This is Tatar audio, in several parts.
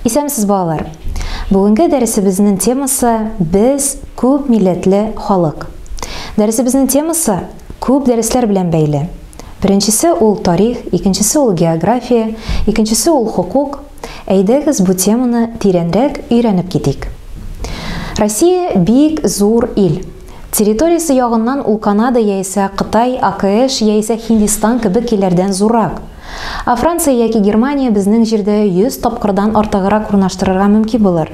Исәнмесез, балалар! Бүгенге дәресебезнең темасы без күп милләтле халык. Дәресебезнең темасы күп дәресләр белән бәйле. Беренчесе ул тарих, икенчесе ул география, икенчесе ул хокук. Әйдәгез бу теманы тирәнрәк өйрәнеп китик. Россия бик зур ил. Территориясе ягыннан ул Канада яисә Кытай, АКШ яисә Һиндистан кебек илләрдән зуррак. Ә Франция яки Германия безнең җирдә 100 тапкырдан артыграк урнаштырырга мөмкин булыр.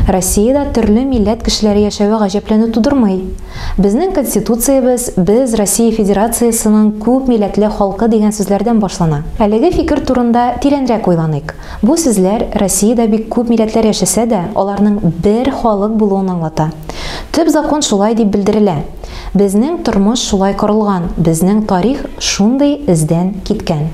Россиядә төрле милләт кешеләре яшәве гаҗәпләнү тудырмый. Безнең Конституциябез Без, Россия Федерациясенең күп милләтле халкы дигән сүзләрдән башлана. Әлеге фикер турында тирәнрәк уйланыйк. Бу сүзләр Россиядә бик күп милләтләр яшәсә дә, аларның бер халык булуын аңлата. Төп закон шулай дип белдерелә. Безнең тормыш шулай корылган, безнең тарих шундый эздән киткән.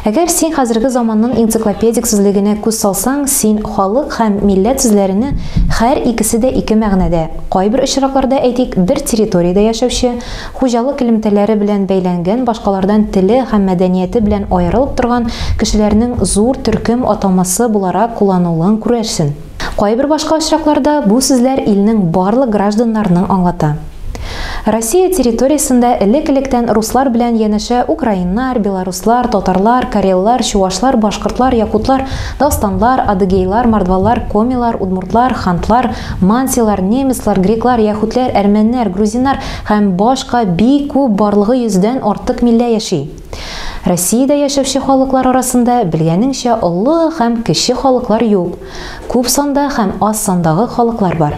Әгәр син хәзерге заманның энциклопедик сүзлегенә күз салсаң, син халык һәм милләт сүзләрене хәр икесе дә ике мәгънәдә, кайбер очракларда, әйтик, бер территориядә яшәүче, Хуҗалык элемтәләре белән бәйләнгән, башкалардан теле һәм мәдәнияте белән аерылып торган кешеләрнең зур төркем атамасы буларак кулланылуын күрерсен. Кайбер башка очракларда бу сүзләр илнең барлык гражданнарының аңлата. Россия территориясендә элек-электән руслар белән янәшә украиннар, белоруслар, татарлар, кареллар, чувашлар, башкортлар, якутлар, дастанлар, адыгейлар, мордвалар, комилар, удмуртлар, хантлар, мансилар, немецлар, греклар, яһүдләр, әрмәннәр, грузиннар, Һәм башка бик күп барлыгы йөздән артык миллә яши. Россиядә яшәүче халыклар арасында белгәнеңчә олы һәм кече халыклар юк, күп санда һәм аз сандагы халыклар бар.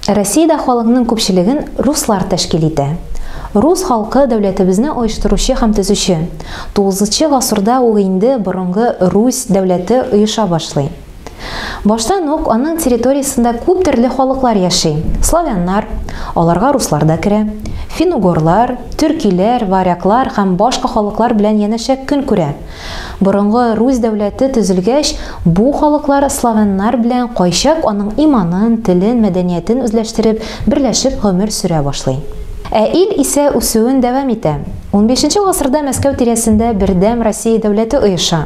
Россиядә халыкның күпчелеген руслар тәшкил итә. Рус халкы дәүләтебезне оештыручы һәм төзүче. Тугызынчы гасырда ук инде борынгы Русь дәүләте оеша башлый. Баштан ук аның территориясендә күп төрле халыклар яши. Славяннар, аларга руслар да керә, финугорлар, төркиләр, варяглар һәм башка халыклар белән янәшә көн күрә. Борынгы Русь дәүләте төзелгәч, бу халыклар славяннар белән кайчак аның иманын, телен, мәдәниятен үзләштереп, берләшеп гомер сөрә башлый. Ә ил исә үсүен дәвам итә. Унбишенче гасырда Мәскәү тирәсендә бердәм Россия дәүләте оеша.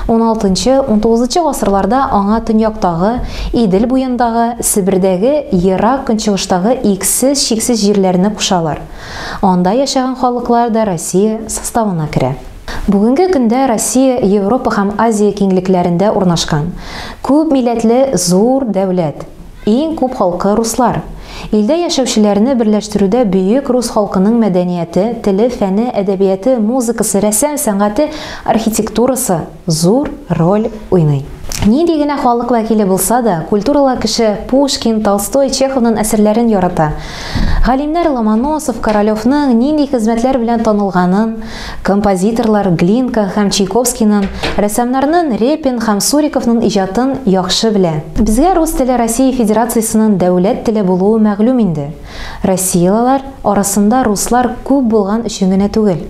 Уналтынчы, унтугызынчы гасырларда аңа төньяктагы, Идел буендагы, Себердәге, Ерак Көнчыгыштагы иксез-чиксез җирләрне кушалар. Анда яшәгән халыклар да Россия составына керә. Бүгенге көндә Россия Европа һәм Азия киңлекләрендә урнашкан, күп милләтле зур дәүләт. Иң күп халкы руслар. Илдә яшәүчеләрне берләштерүдә бөек рус халкының мәдәнияте, теле, фәне, әдәбияты, музыкасы, рәсем сәнгате, архитектурасы зур роль уйный. Нинди генә халык вәкиле булса да, культуралы кеше Пушкин, Толстой, Чеховнын әсәрләрен ярата. Галимнәр Ломоносов, Королевның нинди хезмәтләр белән танылганын, Композиторлар Глинка һәм Чайковскийнын, рәссамнарнын Репин һәм Суриковнын иҗатын яхшы белә. Безгә рус теле Россия Федерациясенын дәүләт теле булуы мәгълүм инде. Россиялылар арасында руслар күп булган өчен генә түгел.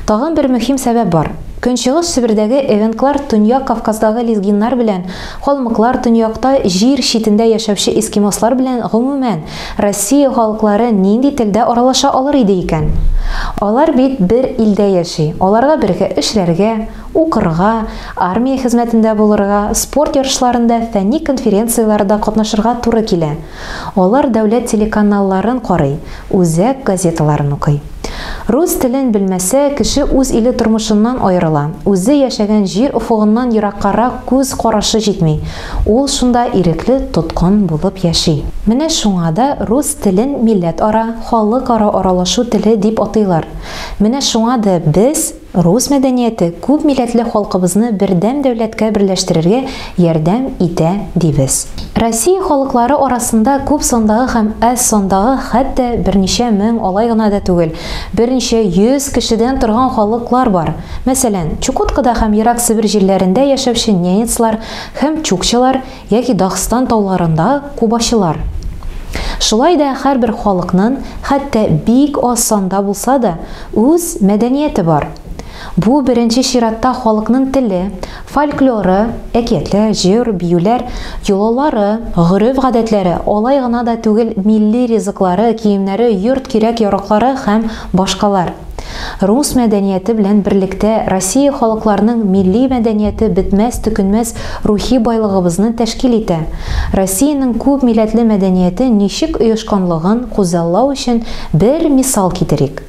Тагын бер мөһим сәбәп бар. Көнчыгыш Себердәге эвенклар Төньяк Кавказдагы лезгиннар белән, калмыклар, төньякта, җир читендә яшәүче эскимослар белән гомумән, Россия халыклары нинди телдә аралаша алыр иде икән? Алар бит бер илдә яши, аларга бергә эшләргә, укырга, армия хезмәтендә булырга, спорт ярышларында, фәнни конференцияләрдә катнашырга туры килә. Алар дәүләт телеканалларын карый, үзәк газеталарын укый. Рус телен белмәсә, кеше үз иле тормышыннан аерыла, үзе яшәгән җир офыгыннан ераккарак күз карашы җитми, Ул шунда ирекле тоткын булып яши. Менә шуңа да рус телен милләтара, халыкара аралашу теле дип атыйлар. Менә шуңа да без, рус мәдәнияте күп милләтле халкыбызны бердәм дәүләткә берләштерергә ярдәм итә дибез. Россия халыклары арасында күп сандагы һәм әз сандагы хәтта берничә мең, алай гына да түгел, берничә йөз кешедән торган халыклар бар. Мәсәлән, Чукоткада һәм Ерак Себер җирләрендә яшәүче ненецлар, Һәм чукчалар яки Дагстан тауларында кубачылар. Шулай да һәрбер халыкнын, хәтта бик аз санда булса да, үз мәдәнияте бар. Бу беренче чиратта халыкнын теле, фольклоры, әкиятләр, җыр, биюләр, йолалары, гореф-гадәтләре, алай гына да түгел милли ризыклары, киемнәре, йорт кирәк-яраклары һәм Башкалар. Рус мәдәнияте белән берлектә Россия халыкларының милли мәдәнияте бетмәс-төкенмәс рухи байлыгыбызны тәшкил итә. Россиянең күп милләтле мәдәнияте ничек оешканлыгын күзаллау өчен бер мисал китерик.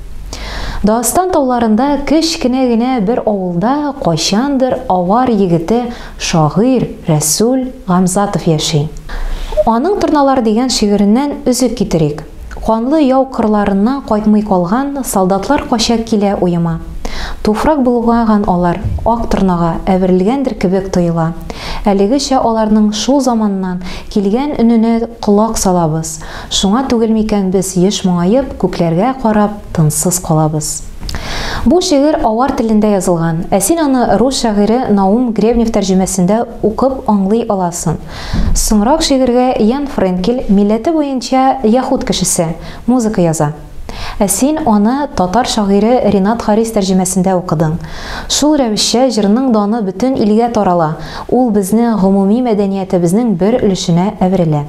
Дагыстан тауларында кеч кенә генә бер авылда кайчандыр авар егете шагыйрь Рәсүл Гамзатов яши. Аның Торналар дигән шигыреннән өзек китерик. Канлы яу кырларыннан кайтмый калган солдатлар кача килә уема. Туфрак болгаган алар, ак торнага әверелгәндер кебек тоела. Әлегечә аларның шул заманнан килгән өненә колак салабыз. Шуңа түгел микән без еш моңаеп, күкләргә карап, тынсыз калабыз. Бу шигырь авар телендә язылган, ә син аны рус шагыйре Наум Гребнев тәрҗемәсендә укып аңлый аласың. Соңрак шигырьгә Ян Френкель, милләте буенча яһүд кешесе, музыка яза. Ә син аны татар шагыйре Ринат Харис тәрҗемәсендә укыдың. Шул рәвешчә җырның даны бөтен илгә тарала, ул безнең гомуми мәдәниятебезнең бер өлешенә әверелә.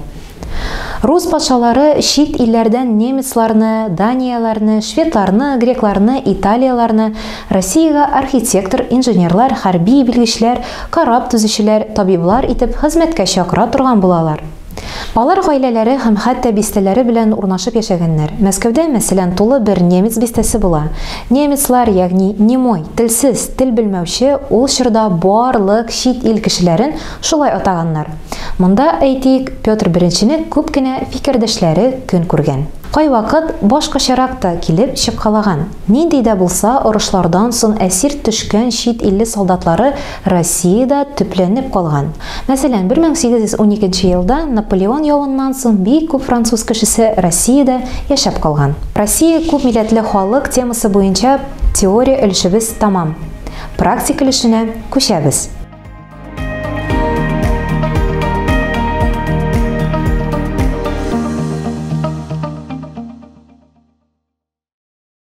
Рус патшалары чит илләрдән немецларны, данияләрне, шведларны, грекларны, италияләрне, Россиягә архитектор, инженерлар, хәрби белгечләр, кораб төзүчеләр, табиблар итеп хезмәткә чакыра торган булалар. Алар гаиләләре һәм хәтта бистәләре белән урнашып яшәгәннәр. Мәскәүдә, мәсәлән, тулы бер немец бистәсе була. Немецлар, ягъни немой, телсез, тел белмәүче, ул чорда бар лык чит ил кешеләрен шулай атаганнар. Монда, әйтик, Петр Беренчене күп кенә фикердәшләре көн күргән. Кайвакыт башкачарак та килеп чыккалаган. Нинди дә булса орышлардан сон әсир төшкән чит илле солдатлары Россиядә төпләнеп калган. Мәсәлән, 1812 елда Наполеон явыннан сон бик күп француз кешесе Россиядә яшәп калган. Россия күп милләтле халык темасы буенча теория өлешебез тәмам. Практик өлешенә күчәбез.